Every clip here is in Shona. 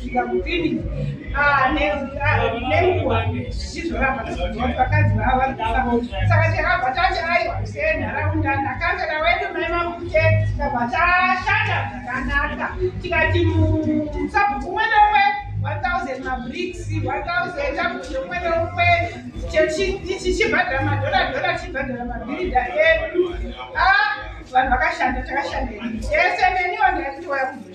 zvikamupini ah, nenguva ah, zvichizoramba vakadzi vava vari kufa saka chakabva chati aiwa senharaunda ndakasara wedu mai mamute tikabva tashanda zvakanaka tikati musabhuku umwe neumwe 1000 mabrics 1000 sabhuku umwe neumwe chichibhadhara madhora dhora chibhadhara mabhirida edu ah, vanhu vakashanda takashanda yese neniwa ndakatiwaya kuzo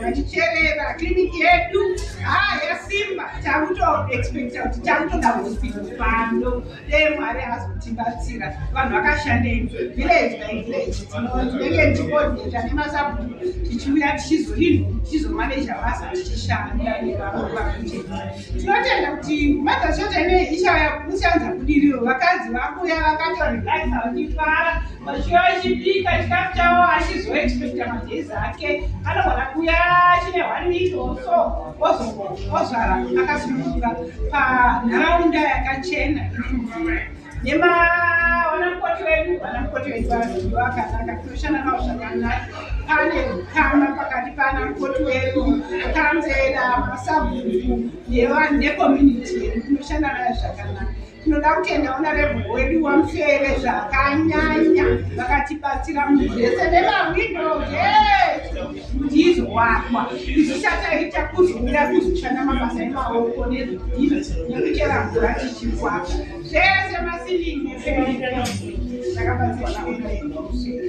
Yaticherera kiriniki yedu haa yasimba takutoexpecta kuti takutoda hospital pano dee mwari hazotibatsira vanhu vakashandei village by village tinenge ndikodeta nemasabhuku tichiuya tichizoini tichizomaneja basa tichishanda nevakuti tinotenda kuti mother church ine ichauya kuchanza budiriro vakadzi vakuya vakatorelaxa vachifara Mashura achibika chikafu chavo achizoexpecta magezi ake anogona kuya chine one week oso ozvara akasununguka panharaunda yakachena nevanamukoti vedu vanamukoti vedu vanoziva vakanaka tinoshanda navo zvakanaka pane ukama pakati panamukoti wedu kanzera masabhuku nevanhu necommunity yedu tinoshanda nayo zvakanaka Tinoda kutenda honorable wedu waMufeve zvakanyanya vakatibatsira munhu zvese nemahwindo ndizoakwa izvichataita kuzouya kuzoshanda mabasa emaoko nezvidhina nekuchera mvura tichikwaka zvese masilingi zvakabatsirwa naonaeauseve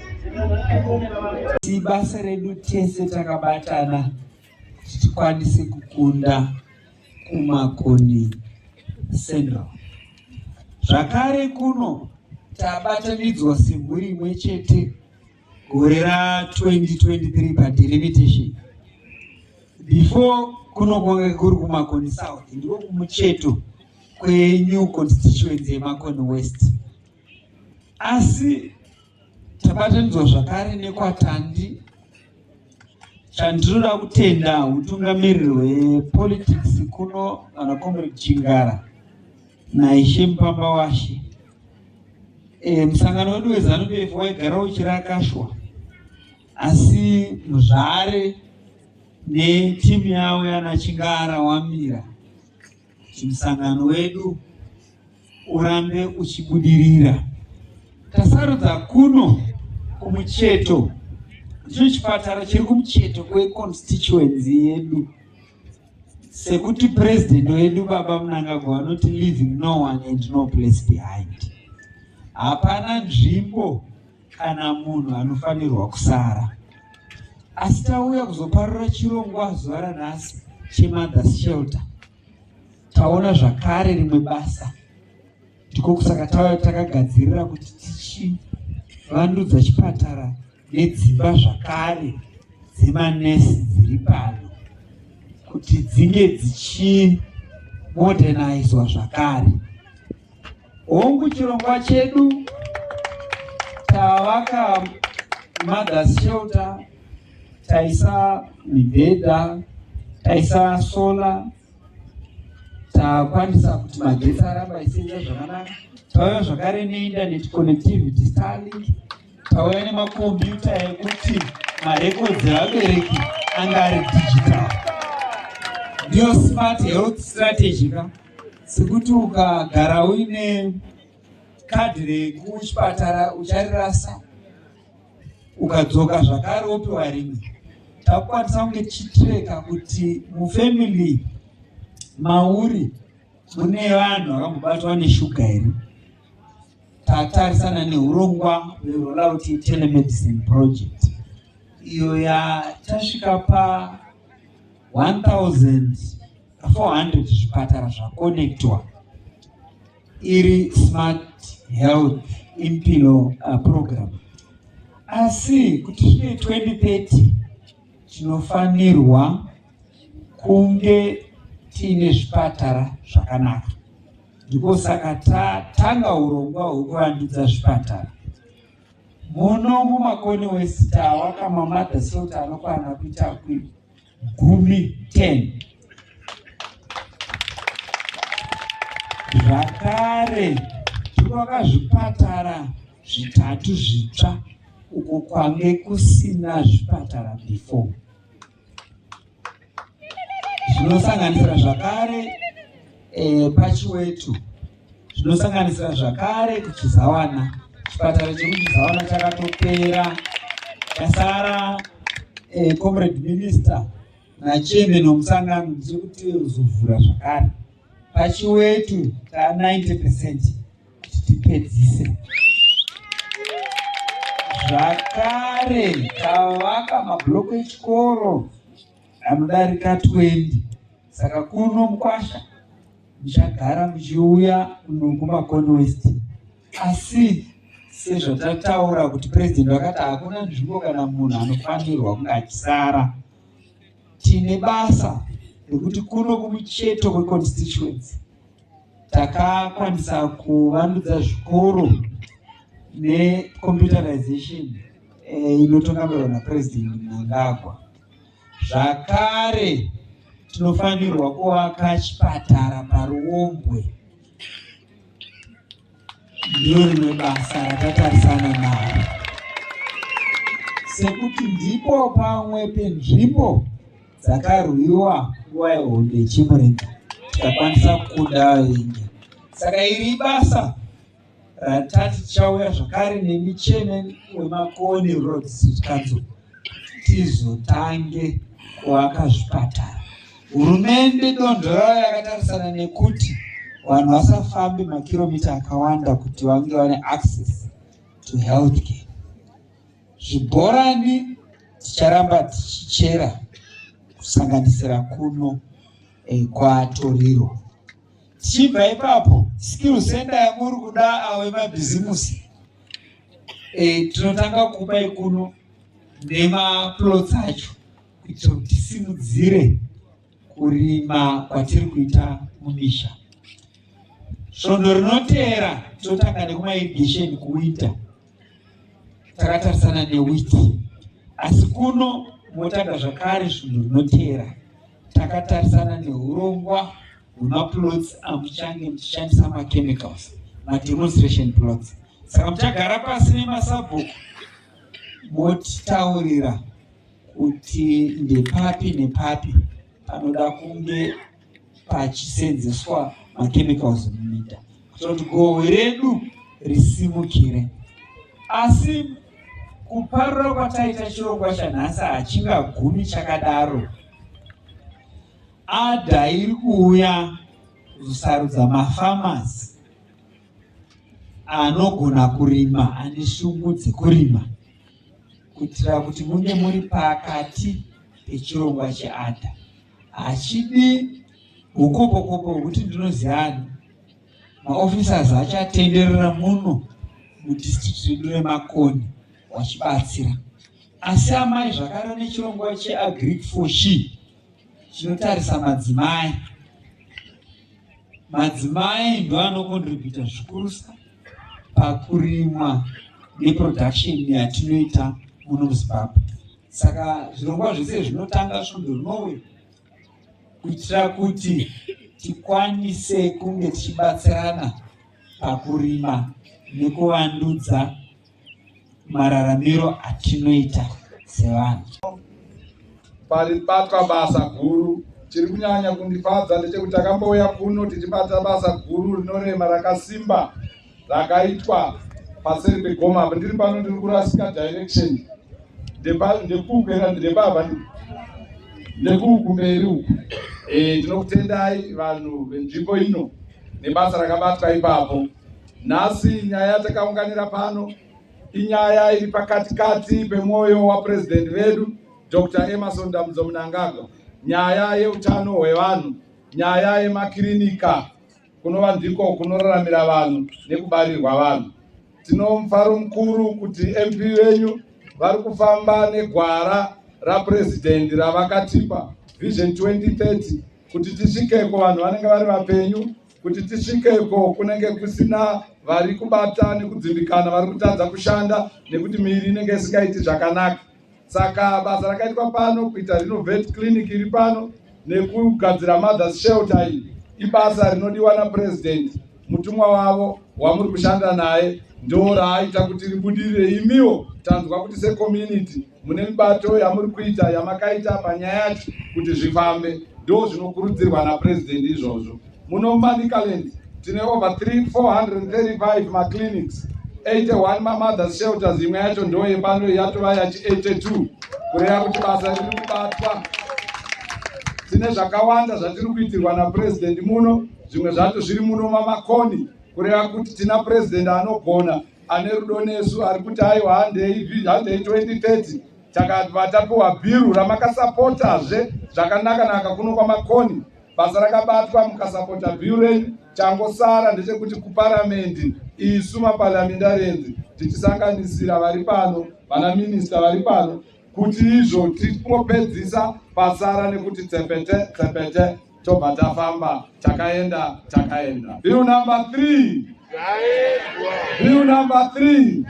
Ibasa redu tese takabatana kuti tikwanise kukunda kuMakoni Central. Zvakare kuno tabatanidzwa semhuri imwe chete gore ra 2023 padelimitation before kuno kwanga kuri kumakoni south ndiko kumucheto kwenew constituency yemakoni west Asi tabatanidzwa zvakare nekwatandi chandinoda kutenda utungamiriri hwepolitics kuno kana comrade chingara naishe mupamba washe e, musangano wedu wezanu pf waigara uchirakashwa asi muzvare netimu yavo yanachingara wamira kuti musangano wedu urambe uchibudirira. Tasarudza kuno kumucheto ndicho chipatara chiri kumucheto kweconstituency yedu sekuti president wedu baba munangagwa vanoti leaving no one and no place behind hapana nzvimbo kana munhu anofanirwa kusara asi tauya kuzoparura chirongwa zuva ranhasi chemothers shelter taona zvakare rimwe basa ndiko kusaka tauya takagadzirira kuti tichivandudza chipatara nedzimba zvakare dzemanesi dziri pano kuti dzinge dzichimodernaizwa zvakare Hongu chirongwa chedu tavaka mothers shelter, taisa mibhedha, taisa solar, takwanisa kuti magetsi aramba isenza zvakanaka. Tauya zvakare neinternet connectivity Starlink, tauya nemakombiyuta ekuti marekodzi evabereki anga ari digital. Ndiyo smart health strategy ka sekuti ukagara uine kadhi rekuchipatara ucharirasa ukadzoka zvakare wopiwa rimwe takukwanisa kunge tichitireka kuti mufamily mauri mune vanhu vakambobatwa neshuga here tatarisana neurongwa hwerollout telemedicine project iyo yatasvika pa 1000 400 zvipatara zvakonectwa iri smart health impilo uh, program asi kuti svike 2030 tinofanirwa kunge tiine zvipatara zvakanaka ndiko saka tatanga urongwa hwekuvandudza zvipatara muno mumakoni wesita wakamamada sota anokwana kuita kwii gumi 10 zvakare tinovaka zvipatara zvitatu zvitsva uko kwange kusina zvipatara before zvinosanganisira zvakare eh, pachiwetu zvinosanganisira zvakare kuchizawana chipatara chekuchizawana chakatopera chasara eh, comrade minister nachairman wemusangano ndichiri kuti uzovhura zvakare pachiwetu ta 90 percent kuti tipedzise zvakare tavaka mabhuloku echikoro anodarika 20 saka kuno mukwasha muchagara muchiuya kuno kumakono west asi sezvatataura kuti president vakati hakuna nzvimbo kana munhu anofanirwa kunge achisara tine basa rekuti kuno kumucheto kweconstituency takakwanisa kuvandudza zvikoro necomputerization eh, inotongamirwa napresident mnangagwa Zvakare tinofanirwa kuvaka chipatara paRuombwe. Ndiro rimwe basa ratatarisana naro sekuti ndipo pamwe penzvimbo dzakarwiwa nguva yehonde yechimurenga tikakwanisa kukuda vavengi saka iri ibasa ratati tichauya zvakare nemi chairman wemakoni road street council tizotange kuaka zvipatara hurumende donzvo rayo yakatarisana nekuti vanhu vasafambe makiromita akawanda kuti vange vane access to health care zvibhorani ticharamba tichichera kusanganisira kuno eh, kwatoriro Tichibva ipapo skill center yamuri kuda awo emabhizimusi e, eh, tinotanga kupa ikuno nemaplots acho kuitira kuti tisimudzire kurima kwatiri kuita mumisha. Svondo rinoteera tinotanga nekumairigesheni kuwinter takatarisana newiti asi kuno motanga zvakare zvinhu zvinoteera takatarisana neurongwa hwemaplots amuchange muchishandisa machemicals mademonstration plots saka muchagara pasi nemasabhuku motitaurira kuti ndepapi nepapi panoda kunge pachiseenzeswa machemicals muminda kuitira kuti goho redu risimukire. Asi kuparura kwataita chirongwa chanhasi hachingagumi chakadaro. Adha iri kuuya kuzosarudza mafamasi anogona kurima ane shungu dzekurima kuitira kuti munge muri pakati pechirongwa cheadha hachidi hukopokopo hwekuti ndinoziyani maofficers achatenderera muno mudistrict redu remakoni wachibatsira asi amai zvakare nechirongwa cheagric for she chinotarisa madzimai madzimai ndoanokontributa zvikurusa pakurimwa neproduction yatinoita muno muzimbabwe Saka zvirongwa zvese zvinotanga svondo rinouya kuitira kuti tikwanise kunge tichibatsirana pakurima nekuvandudza mararamiro atinoita sevanhu. Paribatwa basa guru chiri kunyanya kundifadza ndechekuti takambouya kuno tichibata basa guru rinorema rakasimba rakaitwa paseri pegoma apa ndiri pano ndiri kurasika direction ndekupera ndepava nekukumberi uku eh, ndinokutendai vanhu venzvimbo ino nebasa rakabatwa ipapo nhasi nyaya yatakaunganira pano inyaya iri pakati kati pemwoyo wapurezidendi vedu dr emerson damudzo munangagwa nyaya yeutano hwevanhu nyaya yemakirinika kunova ndiko kunoraramira vanhu nekubarirwa vanhu. Tino mufaro mukuru kuti MP venyu vari kufamba negwara rapurezidendi ravakatipa Vision 2030 kuti tisvikeko vanhu vanenge vari vapenyu, kuti tisvikeko kunenge kusina vari kubata nekudzimbikana, vari kutadza kushanda nekuti miiri inenge isingaiti zvakanaka. Saka basa rakaitwa pano kuita renovate clinic iri pano nekugadzira mothers shelter iyi ibasa rinodiwa napresident mutumwa wavo wamuri kushanda naye ndo raaita kuti ribudirire imiwo tanzwa kuti secommunity mune mibato yamuri kuita yamakaita panyaya yacho kuti zvifambe ndo zvinokurudzirwa napresident izvozvo Muno Manicaland tine over 3 435 maclinics 81 mamothers shelters imwe yacho ndo yepano yatova yachi 82 kureva kuti basa riri kubatwa tine zvakawanda zvatiri kuitirwa napurezidendi muno zvimwe zvacho zviri muno mamakoni kureva kuti tina purezidendi anogona ane rudo nesu ari kuti aiwa handei 2030 takabva tapiwa bhiru ramakasapotazve zvakanaka naka kuno kwamakoni Basa rakabatwa mukasapota Buren changosara ndechekuti kuparamendi isu maparliamentarians tichisanganisira vari pano vana minista vari pano kuti izvo tingopedzisa pasara nekuti tsepete tsepete tobva tafamba takaenda takaenda bill number three bill number three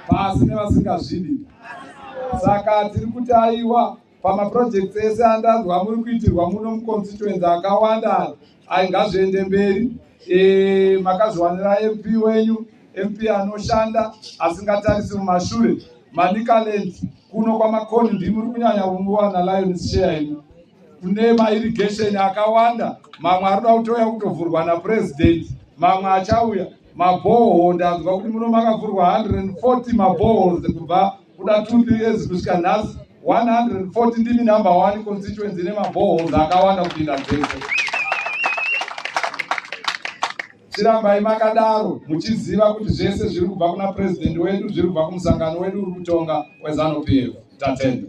pasi nevasingazvidi saka tiri kuti aiwa pamaprojects ese andanzwa muri kuitirwa muno muconstituency akawanda ai ngazviende mberi e, makazviwanira mp wenyu mp anoshanda asingatarisi mumashure manicaland kuno kwamakoni ndimi uri kunyanya kunguwana lions share ino kune mairrigation akawanda mamwe ari kuda kutouya kutovhurwa napresident mamwe achauya mabhoho ndanzwa kuti muno makavhurwa 140 mabhoho kubva kuda 2 3 years kusvika nhasi 140 ndimi number 1 constituency ine mabohos akawanda kupinda dzese chirambai makadaro muchiziva kuti zvese zviri kubva kuna president wedu zviri kubva kumusangano wedu uri kutonga wezanupf tatenda